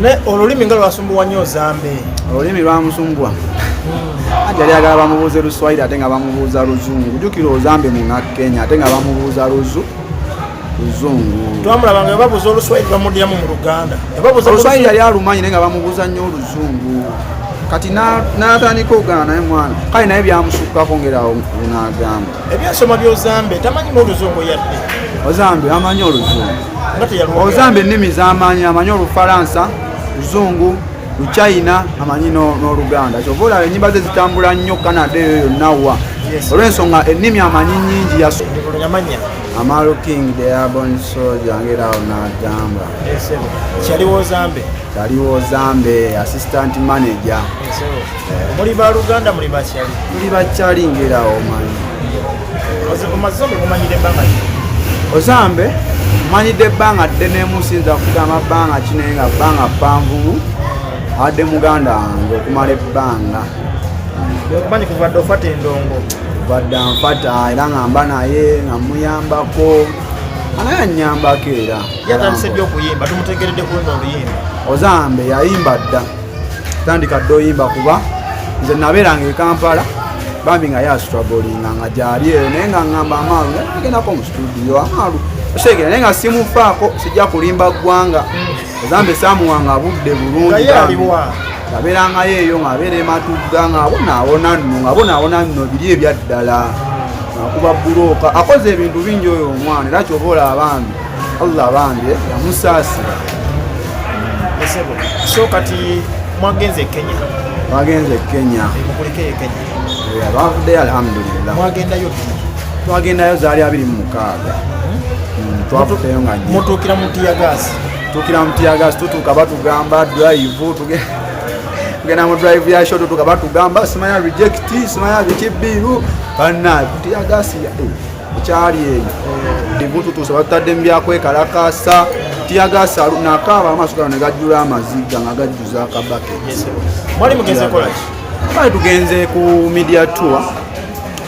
naye olulimi nga lwasumbuwa nnyo zambe olulimi lwamusumbuwa hmm. yali agala bamubuuze luswayiri ate nga bamubuuza luzungu jukira ozambe muna kenya ate nga bamubuuza luzu luzungu twamulaba nga babuuza oluswayiri bamudyamu mu luganda oluswayiri yali alumanyi naye nga bamubuuza nnyo oluzungu kati natandika okugana naye mwana kale naye byamusukkako ngerawo nagamba ebyensoma byozambe tamanyi n'oluzungu yadde ozambe amanyi oluzungu ozambe ennimi zamanyi amanyi olufalansa luzungu luchina amanyi n'oluganda kyova olaba enyimba ze zitambula nnyo canada eyo yonna wa olw'ensonga ennimi amanyi nyingi yaso amaalo king deabon soja ngerawo nagamba kyaliwo zambe assistant manager muli ba luganda muli bakyali muli bakyali ngera omanyi omaze okumanyira ebbanga ozambe manyidde ebbanga dde nemusinza kugamba bbanga kinaye nga bbanga panvumu adde muganda wange okumala ebbanga okumanyi kuvadde ofata endongo vadde anfata era nga mba naye nga muyambako anaye anyambako era yatandise ddi okuyimba tumutegeredde kuwena oluyimba ozambe yayimba dda tandika dde oyimba kuba nze nabeeranga e kampala bambi nga yasitwagolinga nga gyali eyo naye nga ngamba amaalu nagendako mu situdiyo amaalu osegera naye nga simufaako sijja kulimba ggwanga ezambe samuwanga budde bulungi yabeerangayo eyo ngaabeera ematugga ngaabonaawona nno ngaabonaawona nno biri ebyaddala akuba bulooka akoze ebintu bingi oyo omwana era kyoba olaba bambi Allah abange yamusaasira esebo so kati mwagenze Kenya mwagenze Kenya mukulike Kenya abavudde alhamdulillah mwagendayo twagendayo zaali abiri mu mukaaga hmm, twavudeyo nga mutuukira mu tiyagaasi tuukira mu tiyagaasi tutuuka batugamba drive tugenda mu drive ya shot tutuuka batugamba simanya reject simanya biki biiru banna tiyagaasi kyali eyo ebintu tuusa batutadde mu byakwekalakaasa tiyagaasa nakaaba amaaso gano ne gajjula amaziga nga gajjuza akabake mwali mugenze kolaki twali tugenze ku media tour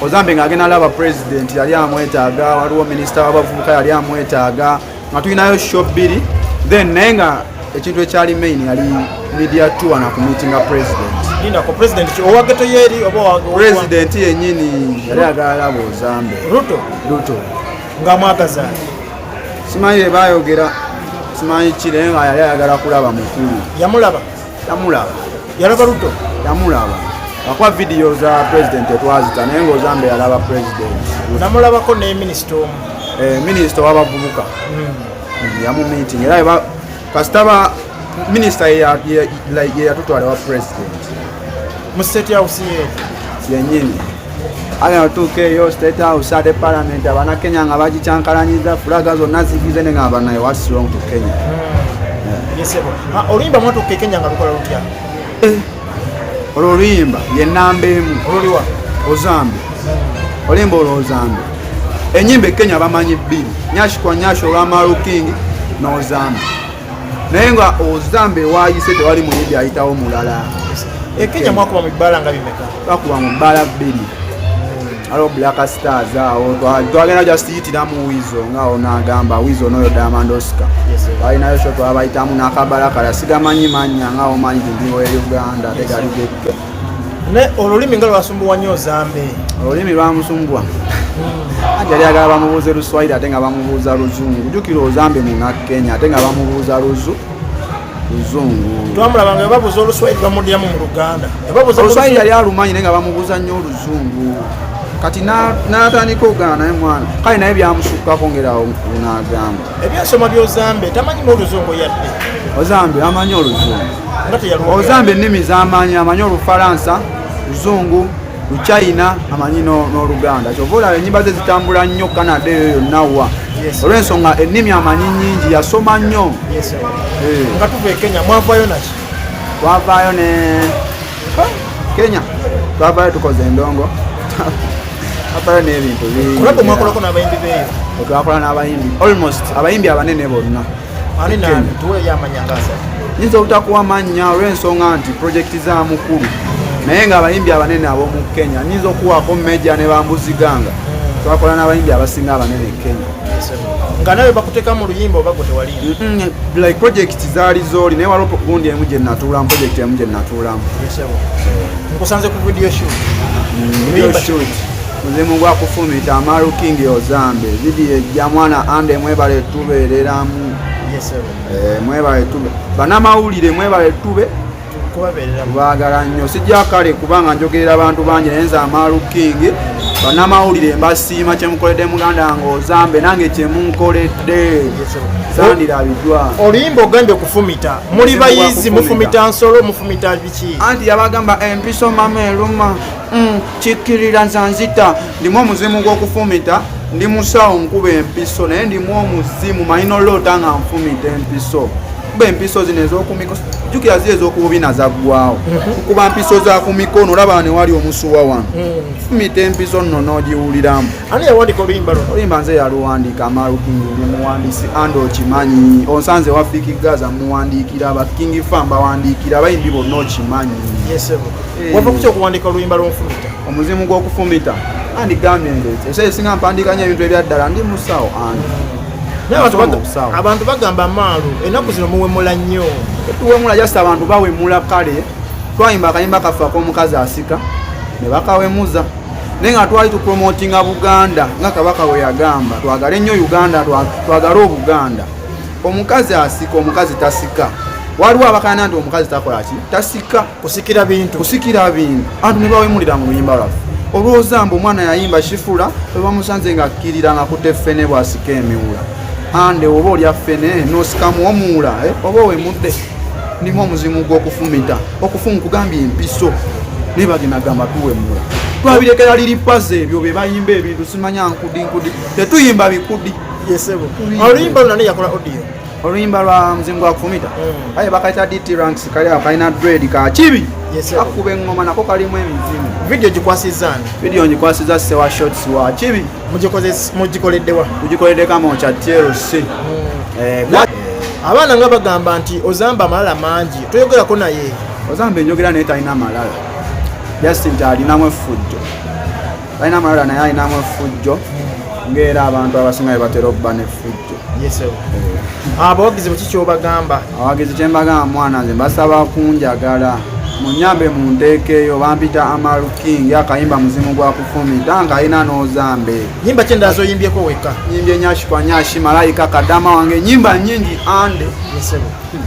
ozambe ng'agenda alaba president yali amwetaaga waliwo minisita w'abavubuka yali amwetaaga nga tulinayo show bbiri then naye nga ekintu ekyali main yali media tour na kumitinga president lindako president owageto yeri oba president yenyini yali agala bozambe ruto ruto nga mwagaza simanyi bebayogera simanyi kire nga yali ayagala kulaba mukulu yamulaba tamulaba yalaba luto tamulaba akuba vidiyo za president etwazita naye ngaozambe yalaba president namulabako ne minisita omu eh, minisita wabavubuka hmm. yamumiting era kasitaba minisita yeyatutwala wa president mu state house yenyini agenda otuuka eyo state house ate parliament abana kenya nga bagikyankalanyiza fulaga zonna zigize ne nga abanaye wasirong to kenya hmm. oluyimba mwatuuka ekenya nga lukola lutya eh, olwo oluyimba yenamba emu oluliwa ozambi hmm. olimba olwo ozambi enyimba ekenya bamanyi bbiri nyashikwa nyashi olwamaru king nozambi naye nga ozamba ewayise tewali muyimbi ayitawo mulala ekenya eh, mwakuba mu bbaala nga bimeka bakuba mu bbaala bbiri aliwo black stars awo twagenda just yitiramu wizo ngaawo nagamba wizo noyo diamond oscar balinayo sho twabayitamu nakabalakala sigamanyi manya ngaawo manyi tindiwo e uganda tegaligeke naye olulimi nga lwasumbuwa nnyo zambe olulimi lwamusumbuwa anti yali agala bamubuuze luswayiri ate nga bamubuuza luzungu jukira ozambe muna kenya ate nga bamubuuza luzu luzungu twamulabanga ebabuuza oluswayiri bamudyamu mu luganda oluswayiri yali alumanyi naye nga bamubuuza nnyo oluzungu kati natandika ogana naye mwana kale naye byamusukkako ngerawo nagamba ebyasoma byozambe tamanyi mu oluzungu yadde ozambe amanyi oluzungu ozamba ennimi zamanyi amanyi olufalansa luzungu luchina amanyi n'oluganda kyova olaba enyimba ze zitambula nnyo canada eyo yonna wa olwensonga ennimi amanyi nyingi yasoma nnyo eh. nga tuva ekenya mwavayo naki twavayo ne kenya twavayo tukoze endongo twavayo n'ebintu bingi twakola n'abayimbi almost abayimbi abanene bonna ani nani tuweeyo amanya ngasa nyinza obutakuwa mannya olw'ensonga nti pulojekiti za mukulu naye ng'abayimbi abanene ab'omu kenya nyinza okuwaako meja ne bambuziganga twakola n'abayimbi abasinga abanene e kenya nga nawe bakuteka mu luyimba oba gwetewali like project zaali zooli naye waliwo gundi emu gye natuulamu project emu gye natuulamu nkusanze ku video shoot mm, video shoot muzimu gwa kufumita amaru king ozambe vidiyo ejja mwana ande mwebale tubeereramu eh, mwebale tube banamawulire mwebale tube kubagala nnyo sijja kale kubanga njogerera abantu bangi naye nze amaru king banamawulire mbasiima kyemukoledde muganda wange ozambe nange kyemunkoledde zandirabiddwa oluyimba ogambye okufumita muli bayizi mufumita nsolo mufumita biki anti yabagamba empiso mama eluma mm. kikkirira nsanzita ndimu omuzimu gw'okufumita ndi musawo nkuba empiso naye ndimu omuzimu manyi noloota nga nfumita empiso kuba empiso zino ezokumiko jukira zi ezokububina zaggwawo mhm. kuba mpiso zakumikono olaba newali omusuwa wano mhm. fumita empiso nno nogiwuliramu olimba nze yaluwandiika amalukingi ndi muwandisi and okimanyi onsanze wafiiki gaza muwandiikira abakingi fa mbawandiikira abayimbi bonna okimanyi eh. wava kukyo okuwandiika oluyimba lw'omufumita omuzimu gw'okufumita andi gambye ndeeti esayi esinga mpandiikanya ebintu ebyaddala ndi musawo andi abantu bagamba maalu ennaku zino muwemula nnyo tuwemula just abantu bawemula kale twayimba akayimba kaffe ak'omukazi asika ne bakawemuza naye nga twali tupromotinga buganda nga kabaka we yagamba twagale nnyo uganda twagale obuganda omukazi asika omukazi tasika waliwo abakana nti omukazi takola ki tasika kusikira bintu kusikira bintu anti nebawemulira mu luyimba lwaffe olwooza mbu omwana yayimba kifula webamusanze nga akkirira nga kutte ffene bwasika emiwula ande oba olya ffene nosikamu omuwula eh? oba owemudde nimu omuzimu gwokufumita okufumu kugambye empiso naye bagenda gamba tuwemula twabirekera liri paze ebyo bebayimba ebintu simanya nkudi nkudi tetuyimba bikudi yesebo oluyimba luna neyakola odio oluyimba lwa mzingo akufumita mm. aye bakayita dt ranks kali akalina dred ka kibi akuba eŋŋoma nako kalimu emizimu vidiyo gikwasiza ani vidiyo ngikwasiza sewa shots wa kibi mugikoleddewa mugikoledde kama okya tlc mm. eh, eh. abaana nga bagamba nti ozamba amalala mangi toyogerako naye ozamba enjogera naye talina amalala just nti alinamu effujjo balina amalala naye alinamu efujjo ngaera abantu abasinga bebatera okuba nefujjo ah, abawagizi bweki kyobagamba abawagizi kyembagamba mwana nze basaba kunjagala munyambe munteekeeyo bampita amalu king akayimba muzimu gwa kufumita nga alina n'ozambe nyimba ki endala zoyimbyeko wekka nyimbye nyashikwa nyashi malayika kadama wange nyimba nyingi ande